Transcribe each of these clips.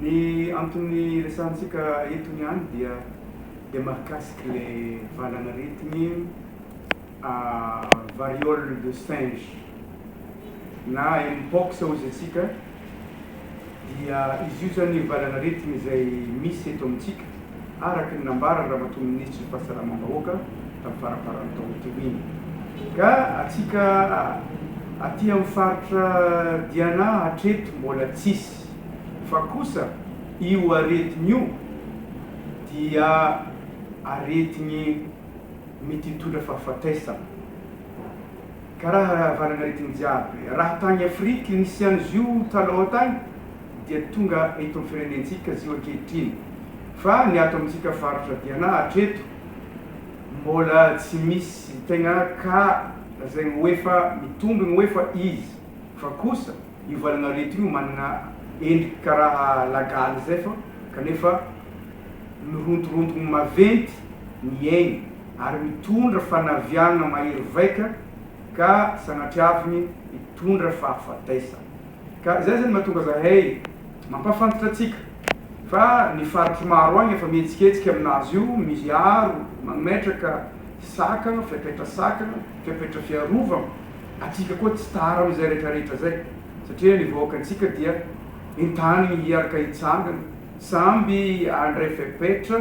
Ny antony resahantsika eto niany dia dia mahakasika le valan'aretigny variole de singe na mpox hoy izy antsika. dia izy io izany ny valanaretina izay misy eto amintsika, araka ny nambaran'ny Ramatoa Minisitry ny Fahasalamam-bahoaka tamin'ny faramparan'ny taona teo iny. Ka antsika aty amin'ny faritra Diana hatreto mbola tsisy. Fa kosa io aretina io dia aretigny mety hitondra fahafatesana. Ka raha rahavalana aretigny jiaby raha tagny Afrique nisiany zio taloha tagny dia tonga eto am firenentsika zio ankehitriny fa ny ato amintsika faritra Diana hatreto mbola tsy misy tegna ka zegny hoe fa mitombigny hoe fa izy fa kosa io valagna aretigny io managna endriky ka raha lagaly zay fa kanefa mirontorontogne maventy miaigny ary mitondra fanaviàna mahery vaika ka sanatria avy ny hitondra fahafatesana. Ka izay izany mahatonga zahay mampahafantatra antsika fa ny faritro maro agny efa mihetsiketsika aminazy io, miaro, mametraka sakagna, fepetra sakagna, fepetra fiarovagna, atsika koa tsy tara amizay retraretra zay satria ny vahoakantsika dia entanigny hiaraka hitsangana samby handray fepetra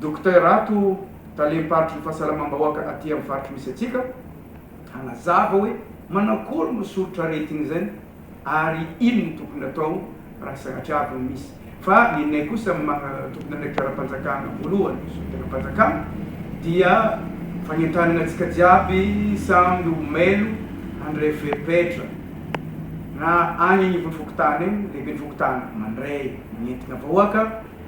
Docteur ato, talem-paritry ny fahasalamam-bahoaka aty amin'ny faritra misy antsika, hanazava hoe manakory no soritr'aretina izay ary inona no tokony atao raha sanatria avy ny misy. Fa ny anay kosa maha tompon'andraikitra ara-panjakana voalohany, ny solontenam-panjakana, dia fanentanana antsika jiaby samy ho mailo handray fepetra na any anivon'ny fokontany any, lehiben'ny fokontany mandray ny entina vahoaka,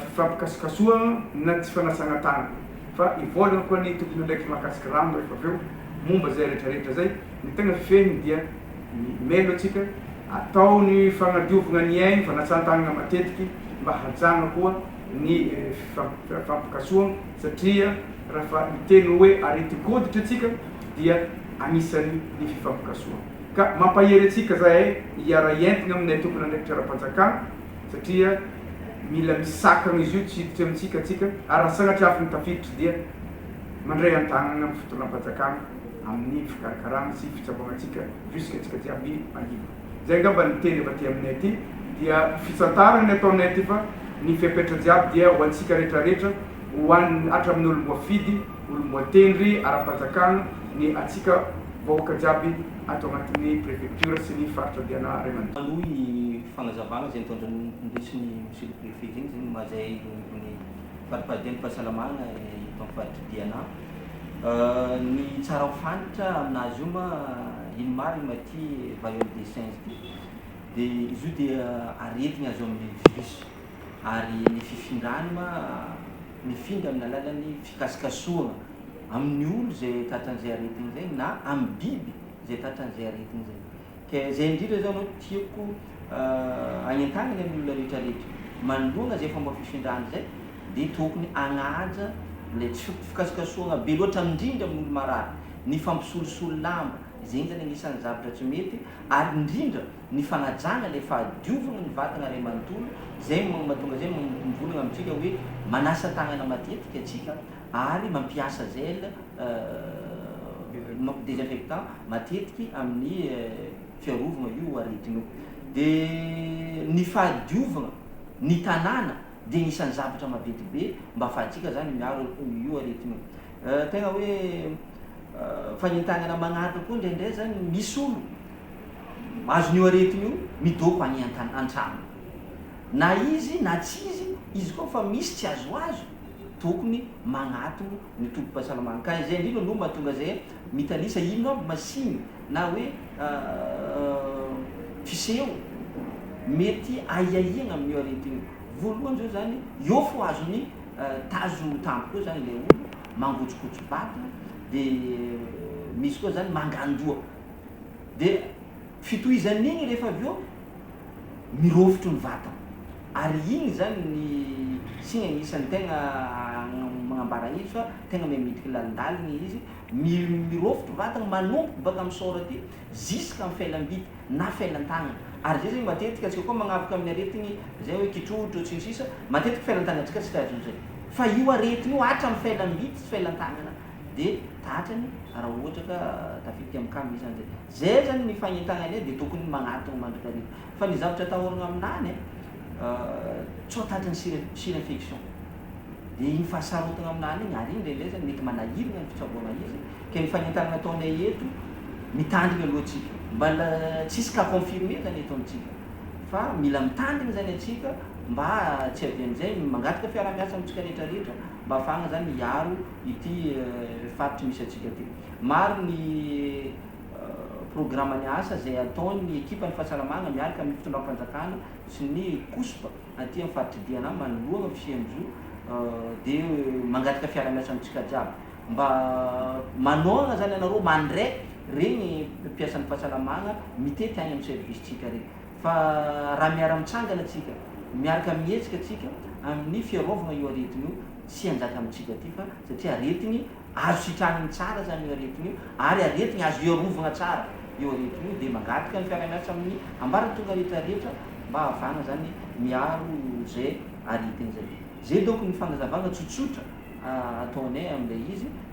fifampikasokasohana na tsy fanasana tanana fa hivolagna koa ny tompon'andraikitry mahakasika rano rehefa avy eo momba izay retraretra izay, ny tegna fehiny dia ny melo antsika atao ny fagnadiovagna ny ainy, fanasantagnana matetiky mba hajagna koa ny fifampikasohana satria raha fa hiteny hoe areti-koditry antsika dia agnisany ny fifampikasohana ka mampahery antsika zahay hiara hientigna aminay tompon'andraikitry ara-panjakana, Satria mila misakana izy io tsy hiditra amintsika tsika ary raha sanatria avy ny tafiditra dia mandray an-tanana amin'ny fitondram-panjakana amin'ny fikarakarana sy fitsaboana antsika jusque tsika jiaby alina. Izay angamba ny teny avy aty aminay aty dia fitsantarana ny ataonay aty fa ny fepetra jiaby dia ho antsika retraretra ho an'ny hatramin'ny olom-boafidy, olom-boatendry ara-panjakana ny antsika vahoaka jiaby ato anatin'ny prefecture sy ny faritra diana ray aman-dreny. Manohy ny fagnazavagna izay nitondran'indresin'ny Monsieur le Préfet zegny zegny mazay irony faripardian'ny fahasalamagna eto amin'ny faritry Diana. Ny tsara ho fantatra aminazy io ma ino marigny ma ty variole des singes ty de izy io dia aretigny azo amin'ny virus ary ny fifindrany ma mifindra amin'ny alalan'ny fikasokasohana amin'ny olo izay tratran'izay aretina izay na amin'ny biby izay tratran'izay aretina izay. Ka izay indrindra izao no tiako hagnentanana ny olona rehetrarehetra, manoloana izay fomba fifindrana izay dia tokony hagnaja ilay tsy fi- fikasokasohana be loatra indrindra amin'ny olo marary, ny fampisolosolo lamba, izay zany anisan'ny zavatra tsy mety ary indrindra, ny fanajana ilay fahadiovana ny vatana iray manontolo, izay mahatonga izay mivolagna amintsika hoe manasa tagnana matetika antsika ary mampiasa gel désinfectant matetiky amin'ny fiarovagna io aretigny io. De ny fahadiovagna ny tanàna de agnisan'ny zavatra maventy be mba afahantsika zany miaro io aretigny io. Tegna hoe fanentagnana magnaraka koa ndraindray zany misy olo. Azon'io aretina io midoko any an-trano. Na izy na tsy izy, izy koa efa misy tsy azoazo, tokony magnatogno ny tobim-pahasalamagna. Ka izay indrindra no mahatonga zay mitanisa ino aby machine na hoe fiseho mety ahiahiagna amin'io aretina io. Voalohany zao zany, eo fô azony tazo tampoka eo zany ilay olo, mangotsokotso-bata, de misy koa zany mangan-doha. dia fitohizan'ny iny rehefa avy eo mirofotro ny vatana ary iny izany ny signe agnisan'ny tegna magnambara hevitra tegna mahay miditry lalindalina ilay izy mirofotro vatana manomboka baka amin'ny sort aty ziska amin'ny felam-bita na felan-tagnana ary zay zany matetika antsika koa magnavoka amin'ny aretigny zay hoe kitrotro sy ny sisa matetika felan-tagnantsika tsy tadidio zay fa io aretigny io hatramin'ny felam-bita sy felan-tagnana de tratrany raha ohatra ka tafiditra amin'ny camp isany zay. Zay zany ny fagnentagnanay de tokony magnatogno mandrakariva. Fa ny zavatra atahoragna aminany a, tsy ho tratry ny sira sira infection. De igny fahasarotagna aminany igny, ary igny ndraindray zany mety manahiragna ny fitsaboagna izy, ke ny fagnentagnana ataonay eto, mitandrigna aloha tsika. Mbala tsisy cas confirmé zany eto amintsika, fa mila mitandrigny zany antsika mba tsy avian'izay mangataka fiarahamiasa amintsika retraretra, mba afahagna zany hiaro ity faritry misy antsika ty. Maro ny programany asa zay ataon'ny ekipan'ny fahasalamagna miaraka amin'ny fitondram-panjakana sy ny COUSP aty amin'ny faritry Diana manoloagna ny fisian'izao de mangataka fiarahamiasa amintsika jiaby mba manohagna zany anareo mandre regny mpiasan'ny fahasalamagna mitety agny amin'ny service-tsika regny. Fa raha miara-mitsangana tsika, miarka mihetsika tsika amin'ny fiarovagna io aretigny io, tsy hanjaka amintsika aty fa satria aretigny azo sitrahigny tsara zany io aretigny io ary aretigny azo iarovagna tsara io aretigny io dia mangataka ny fiarahamiasa amin'ny ambaratonga rehetra rehetra mba hahafahagna zany miaro zay aretigny zay. Zay donc ny fagnazavagna tsotsotra ataonay amin'ilay izy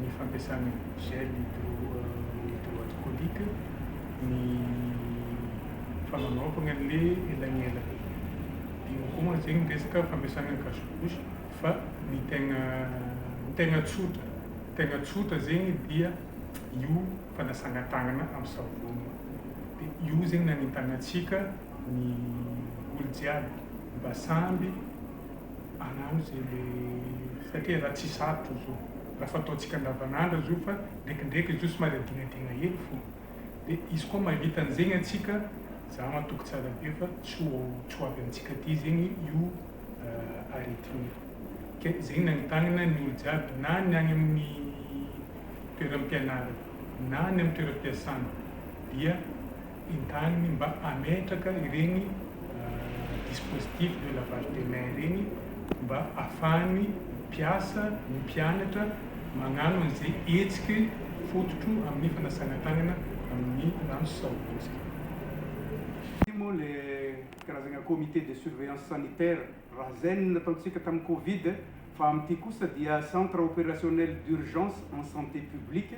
ny fampiasana gel hydroalcoolique, ny fananaovana an'ilay elanelana. Eo koa mantsy izay ny resaka fampiasana ny cache bouche fa ny tegna ny tegna tsotra ny tegna tsotra zegny dia io fanasana tagnana amin'ny savony dia io zegny nanentanantsika ny olo jiaby mba samby anano ze le satria ra tsy sarotra izy io ra fataontsika andavanandro izy io fa ndrekindreky izy io somary adingadina hely fo de izy koa mavita anzegny antsika za matoky tsara be fa tsy ho tsy ho avy amitsika aty zegny io aretina io ke zegny nagnitagnana ny olo jiaby na ny agny aminy toeram-pianarana na ny amy toeram-piasana dia entaniny mba hametraka ireny dispositif de lavage de mains ireny mba afahan'ny mpiasa, ny mpianatra magnano an'izay hetsiky fototro amin'ny fanasana tagnana amin'ny rano sy savony zay. Ity moa le karazagna comité de surveillance sanitaire, RASEN, nataontsika tamin'ny covid fa amin'ity kosa dia centre opérationnel d'urgence en santé publique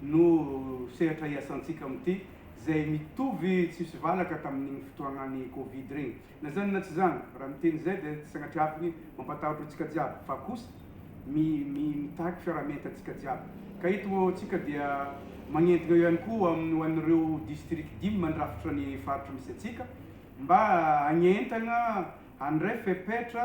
no sehatra hiasantsika amin'ity. izay mitovy tsisy valaka tamin'iny fotoanan'ny covid ireny. Na izany na tsy izany, raha miteny izay dia tsy sanatria avy mampatahotra antsika jiaby fa kosa mi mi mitaky fiaraha-mienta antsika jiaby. Ka eto antsika dia magnentgna eo ihany koa am ho an'ireo district dimy mandrafitra ny faritra misy antsika mba hagnentagna handray fepetra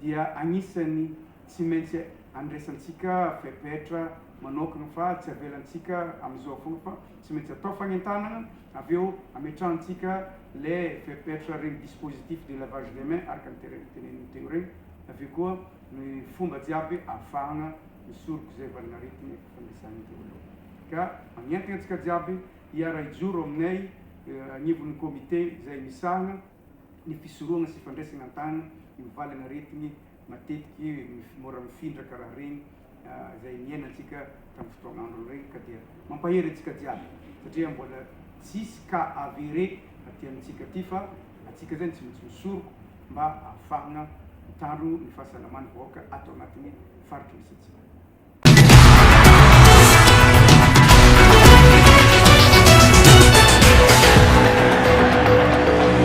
dia anisan'ny tsy maintsy andraisantsika fepetra manokana fa tsy avelantsika amin'izao foana fa tsy maintsy atao fanentanana avy eo ametrahantsika le fepetra regny dispositif de lavage de main araka ny terem teneniny teo regny avy eo koa ny fomba jiaby ahafahana misoroka izay valin'aretigny efa fandresana teo aloha ka magnentana antsika jiaby hiara-hijoro aminay agnivon'ny comité izay misahana ny fisorohana sy fandraisana an-tàna io valan'aretigny matetiky mora mifindraka raha regny izay niainantsika tamin'ny fotoagn'androny regny ka dia mampahery antsika jiaby satria mbola tsisy cas avéré aty amintsika aty fa antsika zany tsy maintsy misoroko mba ahafahagna mitandro ny fahasalaman'ny vahoaka ato agnatin'ny faritry misy antsika.